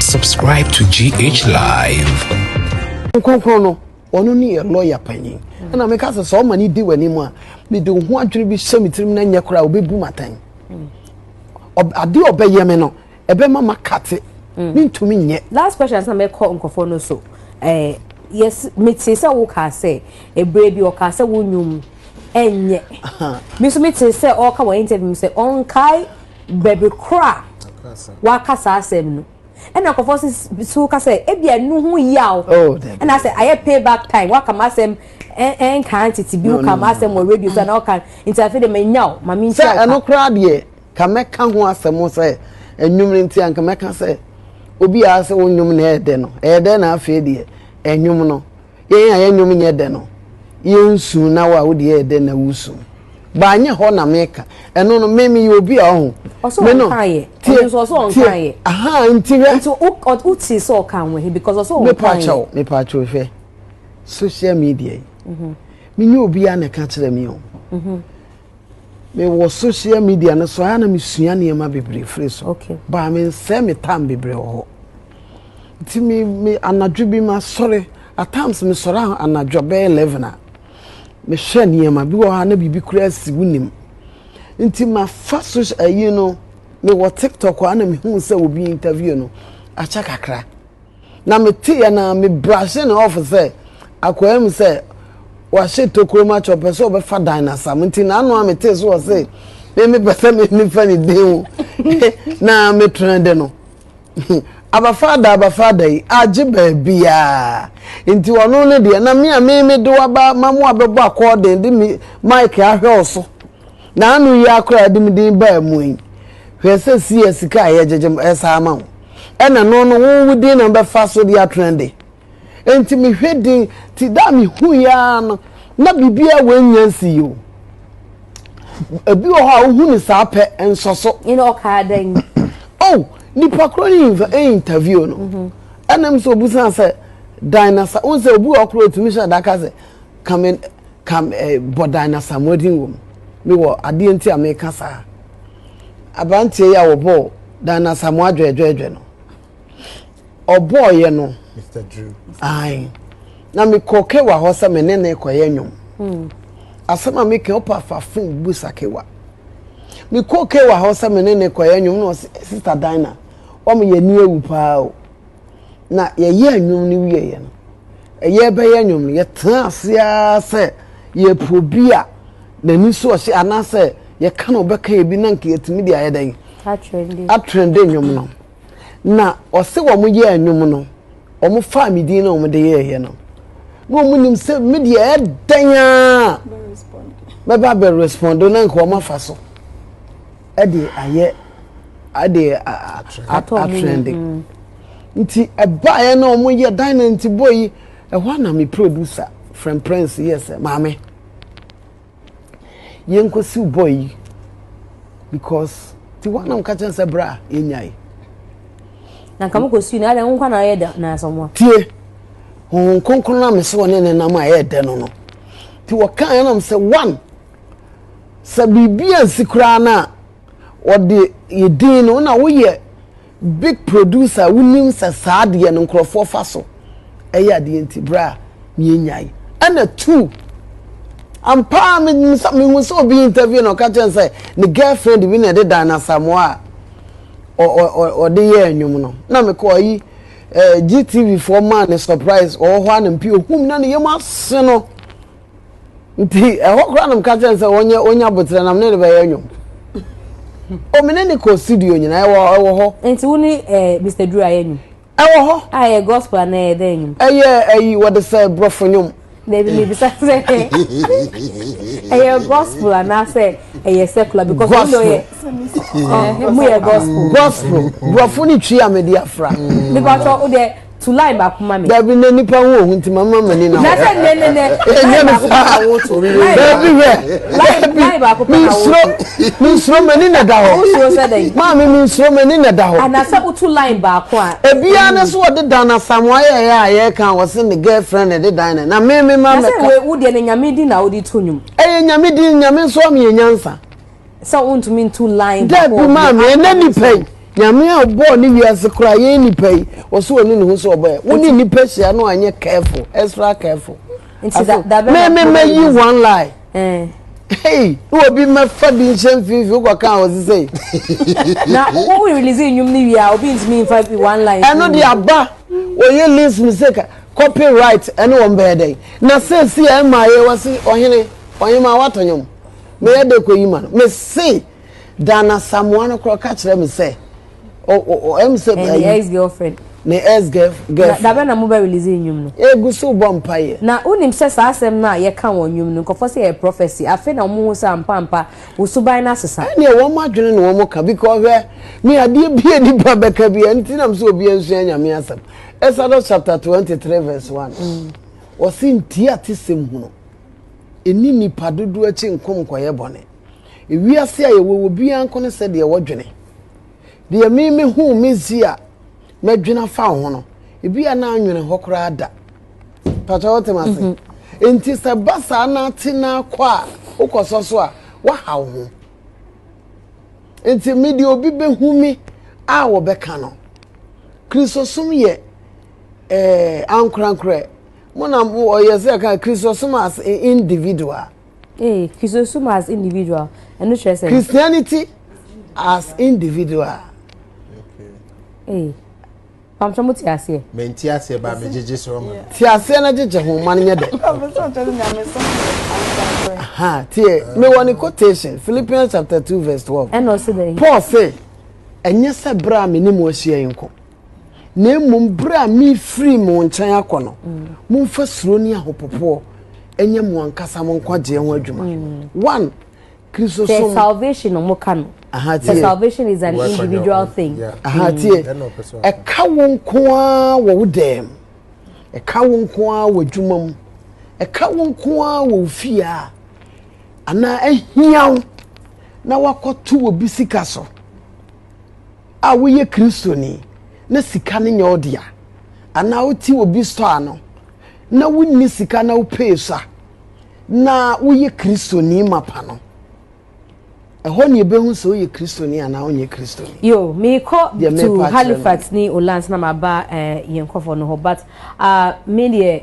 Subscribe to GH Live. Nkonkron no, ɔno ne yɛ lɔya panyin. Ɛna meka sɛ sɛ ɔma ne di w'anim a, mede ho adwene bi hyɛ me tirim na nyɛ koraa ɔbɛbu m'atɛn. Adeɛ ɔbɛyɛ me no, ɛbɛma makate. Mm. Mentumi nyɛ. Last question sɛ mɛkɔ nkurɔfoɔ no so. Eh, yes, mete sɛ wokaa sɛ, ɛberɛ bi ɔkaa sɛ wo nnwom ɛnyɛ. Me nso mete sɛ ɔreka wɔ interview mu sɛ ɔnkae baabi koro a waka saa asɛm no ɛna nkɔfɔ so ka sɛ ebi ɛnu ho yaw oh, ɛna sɛ ayɛ pay back time waka ma asɛm ɛnkan tete bi woka ma asɛm wɔ radio so ana ɔka nti afei de ma nya o ma mi nti ɔka sɛ ɛno koraa deɛ ka mɛka ho asɛm sɛ ɛnwom no nti anka mɛka sɛ obi a sɛ wonwom na ɛyɛ dɛ no ɛyɛ dɛ na afei deɛ ɛnwom no Yɛn a yɛn nnwom nyɛ dɛ no, yensu na wo a wo de yɛ yɛ dɛ na wusu. But anyɛ hɔ na meka. Ɛno no, me meyɛ obi a ɔho. Ɔsɛ Me no, ɔnka yɛ. tie, Ɔno nso ɔsɛ ɔnka tie. yɛ. Ahaa, nti hwɛ. Nti wo ɔ- wo tee sɛ ɔka ho ahi because ɔsɛ ɔnka Mepa yɛ. kyɛw, mepa kyɛw hwɛ. Social media yi. Menyɛ obiara na ɛka kyerɛ me o. mewɔ social media no so a na mesua nneɛma bebree firi so baa mensɛe me tam bebree wɔ hɔ nti me me anadwo bi masɔre at times mesɔre anadwo bɛyɛ eleven a mehwɛ nneɛma bi wɔ hɔ a na biribi kura asi wonim nti mafa so ayi no mewɔ tiktok a na mehu sɛ obi interview no akyɛ kakra na meteeɛ no ara, me brushe ne off sɛ akwaa mu sɛ wahye tokuro mu akyɛ ɔpɛ sɛ ɔbɛfa dan no asam nti n'ano a metee so wɔ se me mepɛ sɛ me nifa ne din ho na metrɛ de no abafaada abafaada yi agye baabiaa nti ɔno no deɛ na me a me mede waba ma mo abɛbɔ akɔɔden de me mike ahwɛ wo so Na ano yi ara koraa a ɛde me din baa mu yi, hwɛ sɛ seɛ sika a yɛgyegye m ɛsa ama wo, ɛna ɛno no wo wo din na mobɛfa so de atena de. Enti mehwɛ din, nti da a mehuiɛ ara no, na biribiara wɔ nnya nsii o. Ebi wɔ hɔ a wohu no saa pɛ, nsɔ so. Ɛna ɔkaa dɛn? Oh, nipa korɔ no inv eh, interview no, ɛna m sɛ obusaa sɛ, dan na sa, wohu sɛ obi wɔ hɔ koraa a otumi hyɛ da ka sɛ, ka me ka eh, Bɔdan na Samoa din wɔ mu. Mewɔ adeɛ nti a meka saa. Aberanteɛ yi a wɔbɔɔ Dan na Samoa dwɛɛdwɛɛdwɛ no, ɔbɔɔyɛ no, ae, na mekɔ Kewa hɔ sɛ me ne ne kɔyɛ nnwom. Hmm. Asɛm a meka ɔpa fa fon bu sa Kewa. Mekɔ Kewa hɔ sɛ me ne ne kɔyɛ nnwom na ɔsɛ Sista Dina, wɔn yɛ ni ewu paa o. na yɛyɛɛ nnwom no wieeɛ no ɛyɛ bɛyɛ nnwom no yɛtena ase ara sɛ yɛpɛ obi a n'ani so ɔhyɛ anaasɛ yɛka na ɔbɛka ebi na nka yɛtumi de ayɛ dɛn atrɛnde nnwom no na ɔse wɔn yɛɛ nnwom no wɔn faa me din na wɔn de yɛɛyɛ no na wɔn nim sɛ me deɛ ɛdɛn a bɛba bɛ respond na nka wɔn afa so. ɛde ayɛ ɛde atrɛnde nti ɛbaeɛ na wɔn yɛ dan na nti bɔ yi ɛhɔ ana mi producer friend prince yɛ sɛ maame yɛn kɔ siw bɔ yi because ti wɔn anam kakyɛ sɛ bra yɛn nya yi. na nka mo kɔ siw na ɛdɛ nkwa na ayɛ dɛ na asɔmɔ. tie wɔn nkonkron na mi sɛ wɔn ne nenam a ɛyɛ dɛ no no ti wɔka yɛn nam sɛ one. sɛ biribi ansi koraa no a, wɔde yɛ din no, na woyɛ big producer a wonim sɛ saa adeɛ no nkurɔfoɔ fa so ɛyɛ adeɛ nti berɛ a yɛnyae ɛna tu ampa a mehu sɛ obi interview na ɔka kyɛn sɛ ne girlfriend bi na ɛde dan asamoa a ɔde yɛ nnwom no na mekɔ ayi eh, GTV foɔ maa ne surprise ɔwɔ hɔ a na mpi ohum na ne yam ase no Nti ɛhɔ koraa na meka kyerɛ no sɛ wɔnyɛ ɔnya boterɛ na mene no bɛyɛ nnwom. O mene ne kɔ studio nyinaa ɛwɔ ɛwɔ hɔ. Nti wo ne eh, Mr. Duru ayɛ nnwom? Ɛwɔ hɔ. A ɛyɛ gospel anaa ɛyɛ dɛn nnwom? Ɛyɛ ɛyi wɔde sɛ borɔfo nnwom. Dabi mebisa sɛ ɛyɛ gospel anaasɛ ɛyɛ secular because wɔn de ɔyɛ ɔmo yɛ gospel. Gospel borɔfo ne twi a mede afra. Mepatwa wo deɛ. to line baako ma me. dabi na nipa ho ohu nti ma ma m'ani na na sɛ nnɛ nnɛ nnɛ line baako pɛ na woto dabi hwɛ line baako pɛ na woto mensuro m'ani na da hɔ wosuro sɛ dɛn maame mensuro m'ani na da hɔ anasɛ woto line baako a ebiara ne so wɔde dan asamoa yɛyɛ a yɛka a wɔse ne girlfriend na ɛde dan na na me me ma mɛka na sɛ wo deɛ ne nyame din na wode to nnwom ɛyɛ nyame din nyame nso ama yɛ nyansa sɛ wontumi ntu line baako daabi maa me ɛnɛ nipa yi nyame a ɔbɔɔ ne wiase koraa yɛn nipa yi ɔsɛ ɔne ne ho sɛ ɔbɔɛ wo ne nipa hyia no anyɛ careful extra careful mɛmɛmɛ yi one lie eh. Hey, na obi mɛfa bi nhyɛ mfimfini wokɔ kan wɔ sisɛ yi. na wo release nnwom no wie a obi ntumi nfa bi one line. ɛno de aba wɔyɛ list mi sɛ copyright ɛne wɔn bɛyɛ dɛn na sɛ si a ɛma yɛ wɔsi ɔhene ɔhema watɔ nwom. Me yɛ de kɔ yi ma no me se dan asamoa no korɔ ka kyerɛ me sɛ o o o ɛm sɛ ɛyɛ ne ex girlfriend ne ex girlfriend dabɛ na mo bɛ release nnwom no egu so bɔ mpa yɛ na wonim sɛ saa asɛm no a yɛ ka wɔn nnwom no nkɔfɔ sɛ yɛ prophecy afe na wɔn ho sɛ ampa ampa wo suban no asesa ɛneɛ wɔn adwene na wɔn ka because hwɛ me adeɛ bia nipa bɛka bia nti nam sɛ obi nsua nyame asɛm Exodus chapter 23 verse 1 wɔse ntia te sɛm hunu ɛnni nnipa dodoɔ akyi nko nkɔyɛ bɔne. Ewiase a yɛwɔ wɔ biara nko ne sɛdeɛ wɔdwene. Deɛ me me huu me zi a mɛdwene afa wo ho no, ebi a na anwene hɔ koraa da. Pàtó wote ma se. Nti sɛ ba saa na ate na akɔ a wokɔ sɔ so a waha wo ho. Nti me deɛ obi bɛhu me a wɔbɛka no. Kristosom yɛ eh, ankorankorɛ. mo na mo ɔyɛ sɛ ka christosum as individual. ee eh, christosum as individual ɛno kyerɛ sɛ. christianity as individual. ee eh, pamtɔ mo te aseɛ. mɛ n ti aseɛ ba mi gyegye sɔrɔ ma. ti aseɛ na gyegye ho ma n nyɛ dɛ. tiɛ mi wɔ ni quotation philippians chapter two verse twelve. ɛna ɔsi dɛ. paul sɛ ɛnyɛ sɛ bere a mi ni mu ahyia yi nko. na mmom berɛ a mefiri mo nkyɛn akɔ no momfa suro ne ahopopoɔ ɛnyɛ mo ankasa mo nkwagyeɛ ho adwuma mm. one kristo som. sɛ salvation na ɔmo ka no. aha tie sɛ salvation is an individual thing. aha mm. tie ɛka wo nko ara wɔ wo dɛm ɛka wo nko ara wɔ adwuma mu ɛka wo nko ara wɔ wo fie a anaa ahia wo na wakɔto wɔ bi sika so. a woyɛ Kristoni na sika no nyɛ wo dea, anaa wote obi sɔ ano na wonni sika na wopee so a, na woyɛ Kristoni mapa no. Ɛhɔ na yɛbɛhu sɛ woyɛ Kristoni anaa wonyɛ Kristoni. Yo, mekɔ to Halifax ne Ulands na maba eh, yɛn nkɔfoɔ no hɔ, but uh, me deɛ